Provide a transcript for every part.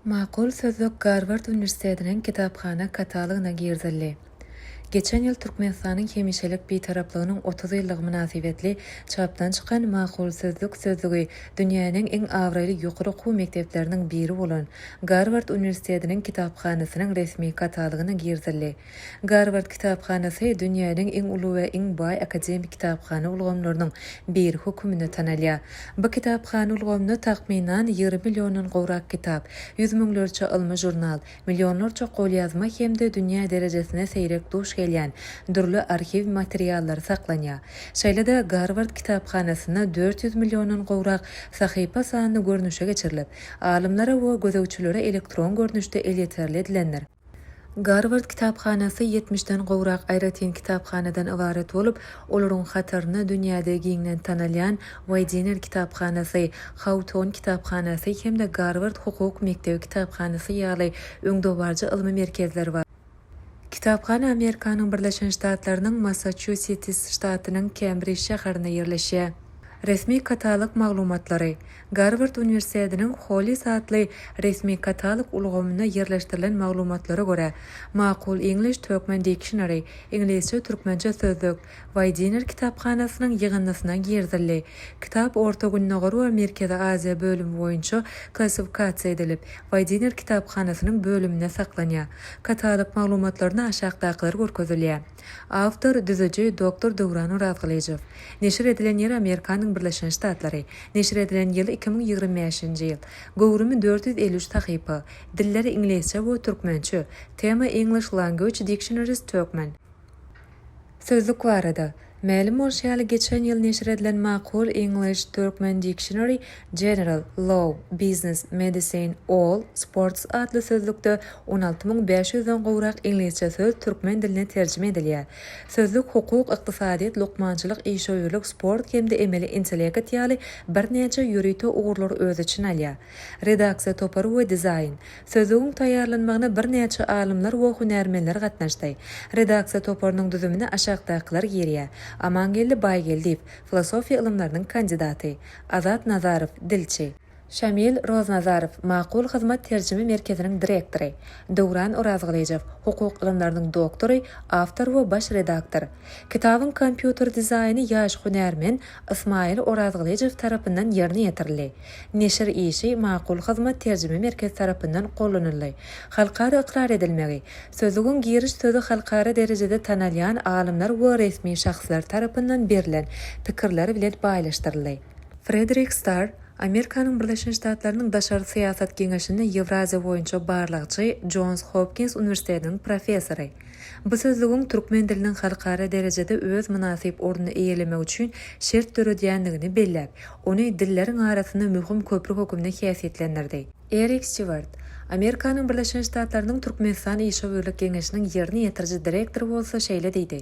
Makul sözlük Garward uniwersitetiniň kitaphana katalogyna girizildi. Geçen ýyl Türkmenistanyň hemişelik Bitaraplygynyň otuz ýyllygy mynasybetli çapdan çykan Makul sözlük sözlügi dünýäniň iň abraýly ýokary okuw mekdepleriniň biri bolan Garward uniwersitetiniň kitaphanasynyň resmi katalogyna girizildi. Garward kitaphanasy dünýäniň iň uly we iň baý akademik kitaphana ulgamlarynyň biri höküminde tanalýar. Bu kitaphana ulgamynda takmynan ýigrimi milliondan gowrak kitap, ýüz müňlerçe ylmy žurnal, millionlarça golýazma hem-de dünýä derejesinde seýrek duş gelýän dürli arhiw materiallary saklanýar. Şeýle-de Garward kitaphanasynda dört ýüz milliondan gowrak sahypa sanly görnüşe geçirilip, alymlara we gözegçilere elektron görnüşde elýeterli edilendir. Garward kitaphanasy ýetmişden gowrak aýratyn kitaphanadan ybarat bolup, olaryň hataryna dünýäde giňden tanalýan Waýdiner kitaphanasy, Hawton kitaphanasy hem-de Garward hukuk mekdebi kitaphanasy ýaly öňdebaryjy ylmy merkezler bar. Kitaphana Amerikanyň Birleşen Ştatlarynyň Massaçusetis ştatynyň Kembrij şäherinde ýerleşýär. Resmi katalog maglumatlary. Garward uniwersitetiniň Hollis atly resmi katalog ulgamynda ýerleşdirilen maglumatlara görä, Makul English Turkmen Dictionary, Iňlisçe-türkmençe sözlük, Weidiner kitaphanasynyň ýygyndysyna girizildi. Kitap Orta Gündogar we Merkezi Aziýa bölümi boýunça klassifikasiýa edilip, Weidiner kitaphanasynyň bölüminde saklanýar. Katalog maglumatlarynda aşakdakylar görkezilýär. Awtor, düzüji, doktor Döwran Orazgylyjow. Neşir edilen ýeri Amerikanyň Birleşen Ştatlary. Neşir edilen ýyly iki müň ýigrimi bäşinji ýyl. Göwrümi dört ýüz elli üç sahypa. Dilleri iňlisçe we türkmençe. Tema English Language Dictionaries Turkmen. Sözlük barada. Mälim bolşy ýaly, geçen ýyl neşir edilen makul English, Turkmen Dictionary General, Law, Business, Medicine, All, Sports atly sözlükde on alty müň bäş ýüzden gowrak iňlisçe söz türkmen diline terjime edilýär. Sözlük hukuk, ykdysadyýet, lukmançylyk, işewürlik, sport hem-de emeli intellekt ýaly birnäçe ýörite ugurlary öz içine alýar. Redaksiýa topary we dizaýn. Sözlügiň taýýarlanmagyna birnäçe alymlar we hünärmenler gatnaşdy. Redaksiýa toparynyň düzümine aşakdakylar girýär, Amangeldi Baýgeldiýew, filosofiýa ylymlarynyň kandidaty, Azat Nazarow, dilçi, Şamil Roznazarow, Makul hyzmat terjime merkeziniň direktory, Döwran Orazgylyjow, hukuk ylymlarynyň doktory, awtor we baş redaktor. Kitabyň kompýuter dizaýny ýaş hünärmen Ysmaýyl Orazgylyjow tarapyndan ýerine ýetirildi. Neşir işi Makul hyzmat terjime merkezi tarapyndan gollanyldy. Halkara ykrar edilmegi, sözlügiň giriş sözi halkara derejede tanalýan alymlar we resmi şahslar tarapyndan berlen pikirler bilen baýlaşdyryldy. Frederik Starr, Amerikanyň Birleşen Ştatlarynyň Daşary syýasat geňeşinde Ýewraziýa boýunça barlagçy, Jons Hopkins uniwersitetiniň professory. Bu sözlügiň türkmen diliniň halkara derejede öz mynasyp ornuny eýelemegi üçin şert döredýändigini belläp, ony dilleriň arasynda möhüm köpri hökümde häsiýetlendirdi. Erik Stiwart, Amerikanyň Birleşen Ştatlarynyň Türkmenistan Işewürlik geňeşiniň ýerine ýetiriji direktory bolsa şeýle diýdi,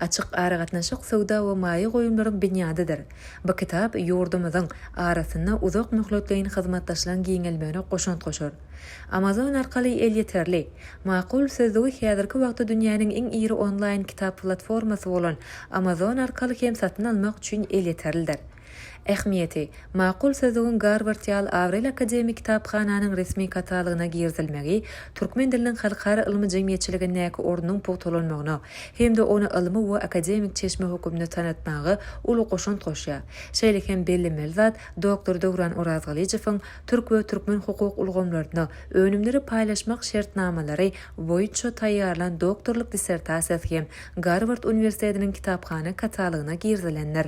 Açyk aragatnaşyk söwda we maýa goýumlaryň binýadydyr. Bu kitap ýurdumyzyň arasynda uzak möhletleýin hyzmatdaşlygyň giňelmegine goşant goşar. Amazon arkaly elýeterli, makul sözlügi häzirki wagtda dünýäniň iň iri onlaýn kitap platformasy bolan Amazon arkaly hem satyn almak üçin elýeterlidir. Ähmiýeti, Makul sözlügiň Garward ýaly abraýly akademik kitaphananyň resmi katalogyna girizilmegi türkmen diliniň halkara ylmy jemgyýetçiligindäki ornunyň pugtalanmagyna hem-de ony ylmy we akademik çeşme hökümde tanatmaga uly goşant goşýar. Şeýle hem bellenmeli zat, doktor Döwran Orazgylyjowyň türk we türkmen hukuk ulgamlaryna önümleri paýlaşmak şertnamalary boýunça taýýarlan doktorlyk dissertasiýasy hem Garward uniwersitetiniň kitaphana katalogyna girizilendir.